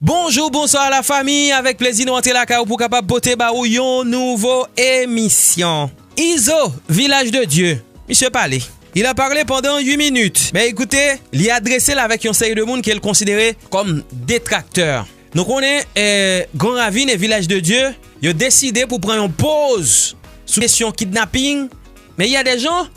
Bonjou bonswa la fami avèk plezi nou antre lakay ou pou kapab pote ba ou yon nouvo emisyon Izo vilaj de Dye misye pale il a parle pandan 8 minit men ekoute li adrese l avèk yon seri de moun ke l konsidere kòm detraktè. Nou konnen Gran Ravin e Vilaj de Dye yo deside pou pran yon poz sou kesyon kidnaping men y a de jan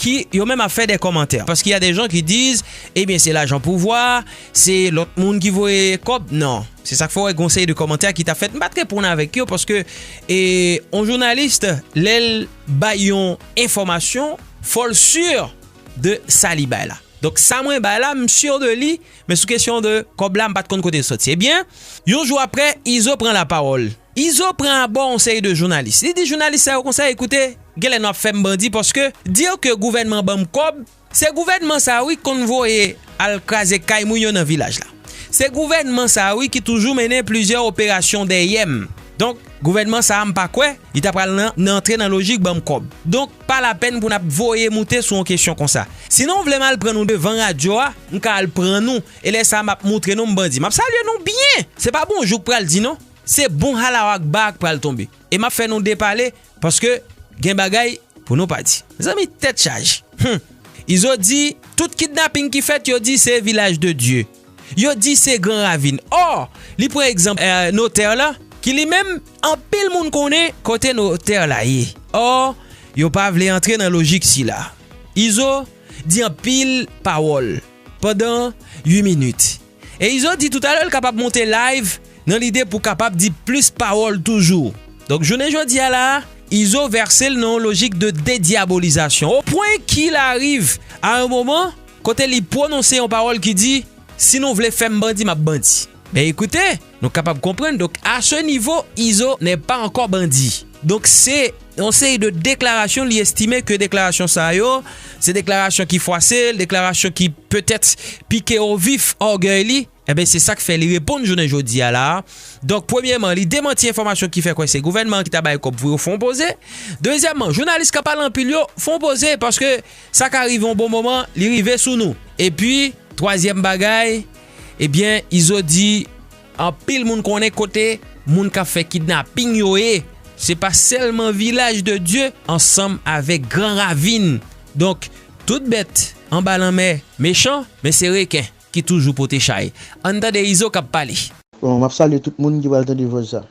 ki yo menm ap fè de kòmantè paske y a de jan ki diz ebyen se lajan pouvwa se lòt moun ki voye kòb nan se sak fè w wè gon seri de kòmantè ki ta fèt m pa t reponn avèk yo paske e yon jounalist lè l bay yon enfòmasyon fò l sur de sa li bay la donk sa mwen bay la m sur de li Men sou kesyon de kòb la m pat konn kote l soti. Ebyen, yon jou aprè, Izo pran lapawòl. Izo pran abò yon seri de jounalis. Li di jounalis sa yo konsa, Ekoute, genlè nou ap fè m bandi paske dire ke gouvènman ban m kòb, se gouvènman sa a wi ki konn voye al kraze kay moun yo nan vilaj la. Se gouvènman sa a wi ki toujou mennen plizyè operasyon dèyè m. Donk, gouvènman sa a m pa kwè li ta pral nan antre nan lojik ban m kòb. Donk. Pa lapèn pou nap voye moute sou yon kesyon konsa. Sinon vle m al pran nou devan radyo a, m ka al pran nou e lè sa map moutre nou m bandi. Map salye nou byen! Se pa bonjou k pral di non, se bon Halao Akbar k pral tonbe. E map fè nou depale paske gen bagay pou nou pa di. Mezanmi tèt chaje! Humm! Izo di tout kidnaping ki fèt yo di se Vilaj de Dye. Yo di se Gran Ravin. Or, li pran egzanp notè la ki li menm anpil moun konnen kote notè la ye. Or, yo pa vle antre nan lojik sila. Izo di anpil pawòl pandan 8 minit. E Izo di toutalè l kapab monte live nan lide pou kapab di plis pawòl toujou. Donk jounen jodi a la a, Izo vèse l nan yon lojik de dedyabolizasyon. O pwen ki l ariv a yon moman. kote li pwononse yon pawòl ki di, Si nou vle fè m bandi, m ap bandi. Ben ekoute, nou kapab konprann donk a se nivo Izo nè pa ankò bandi. Donk se yon seri de deklarasyon li estime ke deklarasyon sa yo se deklarasyon ki fwase l, deklarasyon ki petèt pike o vif ògèy li. Enben, se sa k fè li reponn jounen jodi a la a. Donk, premyèman, li demanti enfòmasyon ki fè kwè se gouvènman an ki ta bay kòb pou yo fon poze. Dezyèmman, jounalis k ap pale anpil yo fon poze paske sa ka rive yon bon moman li rive sou nou. Epi. Twazyèm bagay, ebyen, Izo di anpil moun konnen kote moun k ap fè kidnaping yo ye. Se pa sèlman Vilaj de Dye ansanm avèk Gran Ravin. Donk, tout bèt anba lanmè mechan, men se reken. ki toujou pote chay. Ann tande Izo kap pale. Bon map salye tout moun ki pral tande vòs sa.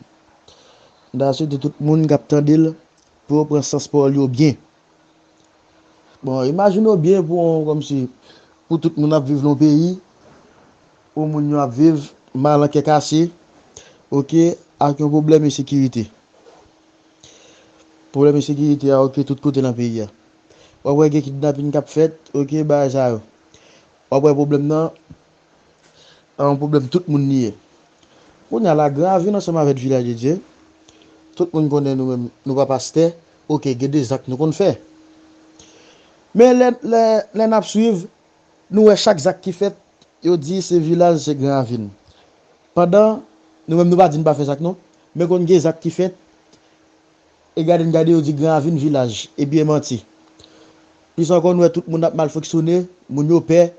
M ta swete tout moun kap tandel pou yo pran sans pawòl yo byen. Bon imajine w byen pou yon kòmsi pou tout moun ap viv nan yon peyi pou moun yo ap viv mal an kè kase ok ak yon pwoblèm ensekirite. Pwoblèm ensekirite a ok tout kote nan peyi a. Wap wè gen kidnapin kap fèt ok bagay sa yo. Wap wè pwoblèm nan an yon pwoblèm tout moun li ye. Kounye a la gran avil ansanm avèk vilaj de Dye, tout moun konnen nou menm nou pa pastè, ok gen de zak nou konn fè. Men lè lè nap swiv nou wè chak zak ki fèt yo di se vilaj se gran avil. Pandan nou menm nou pa di nou pa fè zak non, men konn gen zak ki fèt. E gade n gade yo di gran avin vilaj ebyen manti plis ankò nou wè tout moun ap mal fonksyone moun yo pè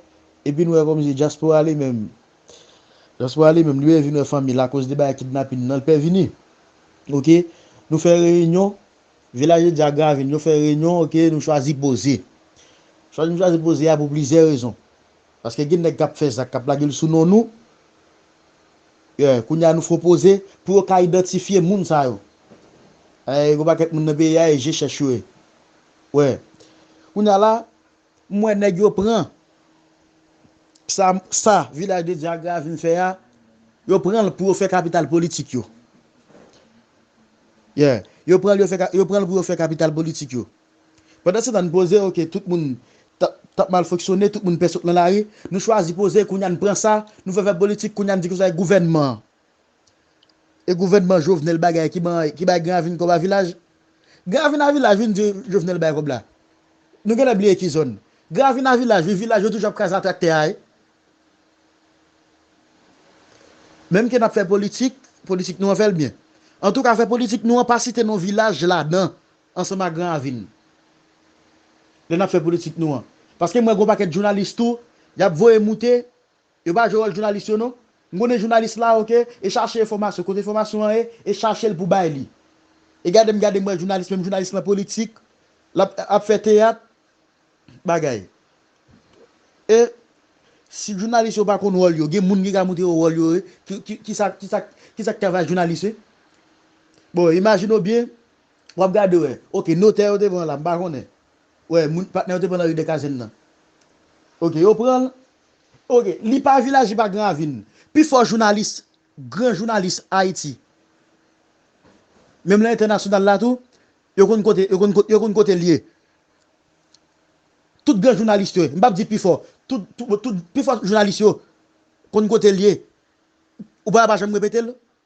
epi nou wè kòmsi dyaspora li menm dyaspora li menm li pè vin wè fanmi l akoz de bagay kidnapin nan l pè vini ok nou fè reyinyon vilaj yo di a gran avin yo fè reyinyon ok nou chwazi poze chwazi nou chwazi poze a pou plizyè rezon Paske gen nèg kap fè zak kap lagel sou non nou yeah kounye a nou fon poze pou yo ka idantifye moun sa yo ayy yon pakèt moun nan peyi a e je chèch yo ye wè kounye a la m wè nèg yo pran sa sa vilaj de dye agra a vin fè a yo pranl pou yo fè kapital politik yo yeah yo pranl yo fè yo pranl pou yo fè kapital politik yo Pandan se tan n poze ok tout moun t ap mal fonksyone tout moun pè sot nan lari nou chwazi poze kounye a n pran sa nou fè fè politik kounye a n di konsa e gouvènman an e gouvènman Jovenel bagay ki ban ki bay Gran Ravin kòb a vilaj Gran Ravin a vilaj vin di Jovenel bay kòb la nou genlè bliye ki zòn Gran Ravin a vilaj wi vilaj yo toujou ap kraze a traktè a e menm ke n ap fè politik politik nou an fè l byen antouka fè politik nou an pa site non vilaj ladan ansanm ak gran avi n lè n ap fè politik nou an paske m wè gen yon pakèt jounalis tou y ap voye moute yo pa jwe wòl jounalis yo non m konnen jounalis la ok e chache enfòmasyon kote enfòmasyon an ye e chache l pou bay li e gade m gade m wè jounalis menm jounalis lan politik l ap ap fè teyat bagay e si jounalis yo pa konn wòl yo gen moun ki ka montre yo wòl yo ki sa ki sa ki sa k travay jounalis bon imajine w byen Wap gade wè. Ok notè yo te pran la m pa konnen wè moun patnè yo te pran nan ri de kazenn nan ok yo pranl ok li pa vilaji pa gran ravin pi fò jounalis gran jounalis ayiti menm lan entènasyonal la tou yo konn kote yo konn yo konn kotel ye tout gran jounalis yo m pap di pi fò tout tout pi fò jounalis yo konn kotel ye ou pa wè pa janm repetel.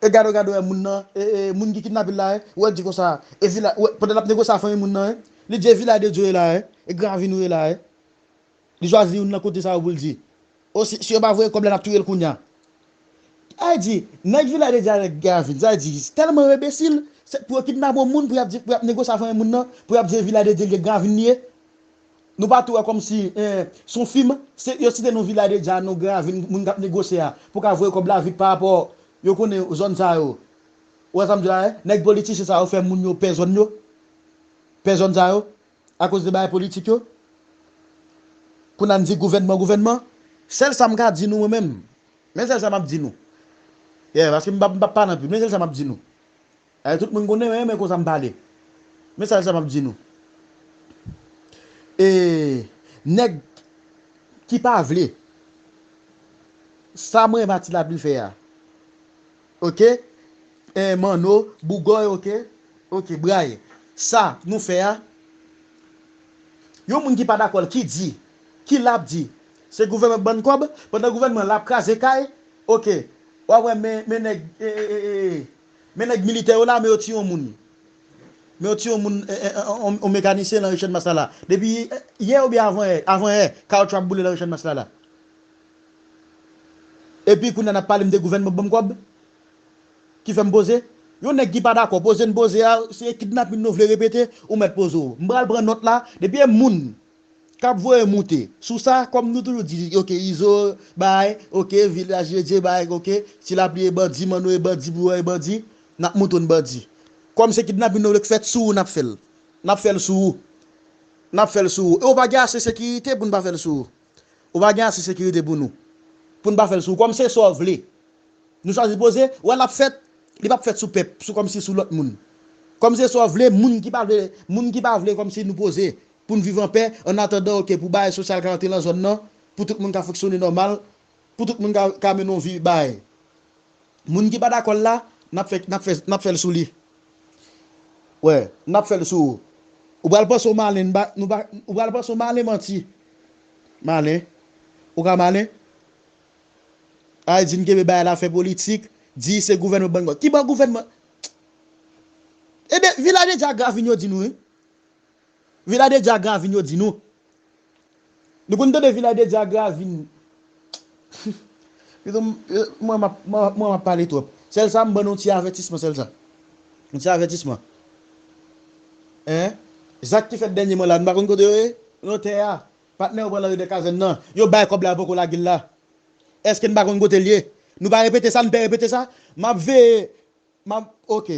E gade gade wè moun nan e e moun ki kidnapel la e ou wèl di konsa e vila ou wè pandan lap negosye a fanmi moun nan e li di e vila de Dieu e la e e gran avin ou e la e li chwazi youn nan kote sa yo poul di o si si yo pa voye kòb la nap touyel kounya sa vle di nèg vila de Dieu avèk gran avin sa vle di tèlman yo enbesil se pou yo kidnape yon moun pou yap di pou yap negosye a fanmi moun nan pou yap di e vila de Dieu li e gran avin li ye. Nou pa tou wè kòmsi se yon fim, se yo site nou vila deja, nou gran avni moun kap negosye a pou ka voye kòb la vit pa rapò yo konnen zòn sa yo. Ou wè sam di la e? Nèg politisyen sa yo fè moun yo pè zòn yo, pè zòn sa yo akoz de bagay politik yo. Kounye a n di gouvènman gouvènman. Sèl sam ka di nou mwen menm, men sèl sa map di nou. Yeah paske m pap pale anpil men sèl sa map di nou. Eeh tout moun konnen men konsa m pale. Mesaj sa map di nou eeh nèg ki pa vle sa mwen Mati Lapli fè a ok eeh Manno, Bougòy ok ok Bray sa nou fè a yon moun ki pa dakò l ki di ki la ap di se gouvènman k ban n kòb pandan gouvènman la ap kraze kay ok wap wè men nèg eeh. Men nèg militè yo la men yo tiye yon moun men yo tiye yon moun yon mekanisyen lan ri channmas la la depi yè oubyen avan yè avan yè kawoutchou ap boule lan ri channmas la la epi kounya nap pale m de gouvènman banm kòb ki fèm poze yon nèg ki pa dakò poze n poze a se kidnapin nou vle repete ou mèt poze w m pral pran nòt la depi e moun Kap voye moute. Sou sa kom nou toujou di ok izo bay ok vilaj ledye bay ok ti lapli e bandi manno e bandi bouyon e bandi nap moutonn bandi kom se kidnapin nou vle k fèt sou ou nap fèl nap fèl sou ou nap fèl sou ou e ou pa gen ase sekirite poun pa fèl sou ou ou pa gen ase sekirite pou nou poun pa fèl sou ou kom se sa w vle nou chwazi poze wè lap fèt li pap fèt sou pèp sou kom si sou lot moun kom se sa w vle moun ki pa vle moun ki pa vle kom si nou poze pou n viv anpè an atandan ok pou bagay sosyal ka antre lan zòn nan pou tout moun ka fonksyone nòmal pou tout moun ka mennen yon vi bay moun ki pa dakò l la nap fè nap fè nap fè l sou li wè nap fè l sou ou ou pral panse w malen n pa nou pa ou pral panse w malen manti malen ou ka malen ay di n kenbe bagay la fè politik di se gouvènman ban n kòb ki ban gouvènman ebyen vilaj entyagrav vin yo di nou wi. Villa de Diagra vin yo di nou. Nou konn tande Villa de Diagra vin. Pito mwen map mwen map pale twòp. Sèl sa m ban nou ti avètisman sèl sa. Yon ti avètisman. Hein Zak ki fèt dènyèman la nou pa konn kote yo ye? Nan tè a. Patnè yo pran nan Ridè Kazèn nan. Yo bay kòb la yo poko lage l la. Èske n pa konn kote l ye? Nou pa repete sa? Nou pè repete sa? Map veye M ap ok.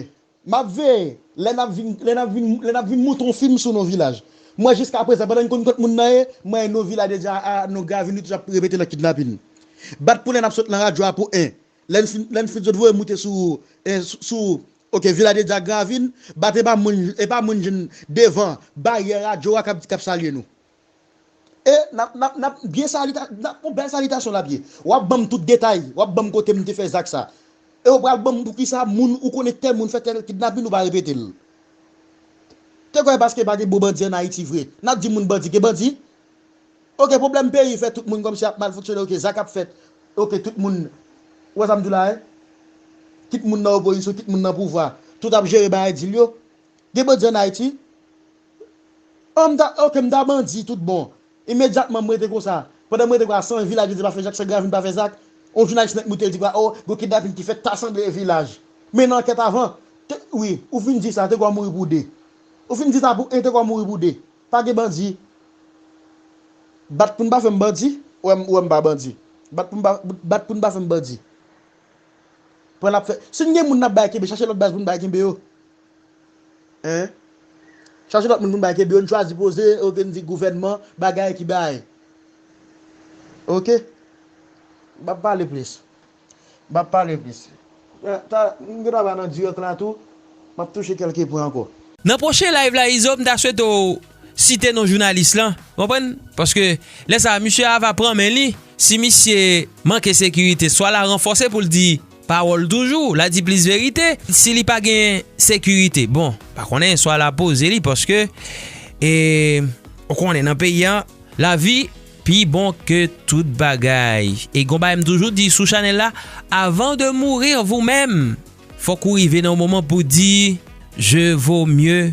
M ap veye lè n ap vin lè n ap vin lè n ap vin monte yon fim sou Novilaj. Mwen jiskaprezan pandan n konn kot moun nan ye, mwen e Novila deja a nou grave nou toujou ap repete nan kidnapin. Bat pou lè n ap sot nan radyo a pou 1 lè n fin lè n fin zot voye moute sou e sou ok Vila deja gravin bat e pa moun e pa moun jwenn devan baryè radyo a k ap k ap salye nou. E nap nap nap byen salita nap on bèl salitasyon lap ye. Wap banm tout detay, wap banm kotem te fè zak sa. E ou pral banm poukisa moun ou konnen tèl moun fè tèl kidnapin ou pa repetel. Te kwè paske pa gen bon bandi an Ayiti vre nap di moun bandi gen bandi? Ok pwoblèm peyi fè tout moun kòmsi ap mal fonksyone ok zak ap fèt ok tout moun ou wè sam diw la e? Kit moun nan opozisyon kit moun nan pouvwa tout ap jere bagay dil yo. Gen bandi an Ayiti? Oh m ta ok m ta bandi tout bon Imedyatman m rete konsa Pandan m rete konsa san vilaj yo di pa fè zak san gravin pa fè zak On jounalis nèt moute l di konsa oh Gon kidnapin ki fèt ta sanble e vilaj Men nan ankèt avan Te wi ou fin di sa te gwa mouri pou 2 Ou fin di sa pou 1 te gwa mouri pou 2 Pa gen bandi Bat pou n pa fè m bandi Ou wè m ou wè m pa bandi Bat pou m pa bat pou n pa fè m bandi Pran l ap fè Si n gen moun n ap bay kenbe chache lòt baz pou n bay kenbe yo Hein Chache lot moun pou nou bay kebe yo nou chwazi poze ok nou di gouvènman bagay ki bay ok Map pale plis Map pale plis ta m gen travay nan direct la tou Map touche kelke pwen anko. Nan pwochen live la Izo m ta swete w site non jounalis lan ou konprann paske lè sa misye a va pran men li si misye manke sekirite swa la ranfòse pou l di Pawòl toujou, la di plis verite. Si li pa gen sekirite, bon, pa konnen swa la poze li paske e ou konnen nan peyi an lavi pi bon ke tout bagay. E gon bagay m toujou di sou chanèl la, avan de mourir vous-même, fòk ou rive nan yon moman pou di je vaux mieux.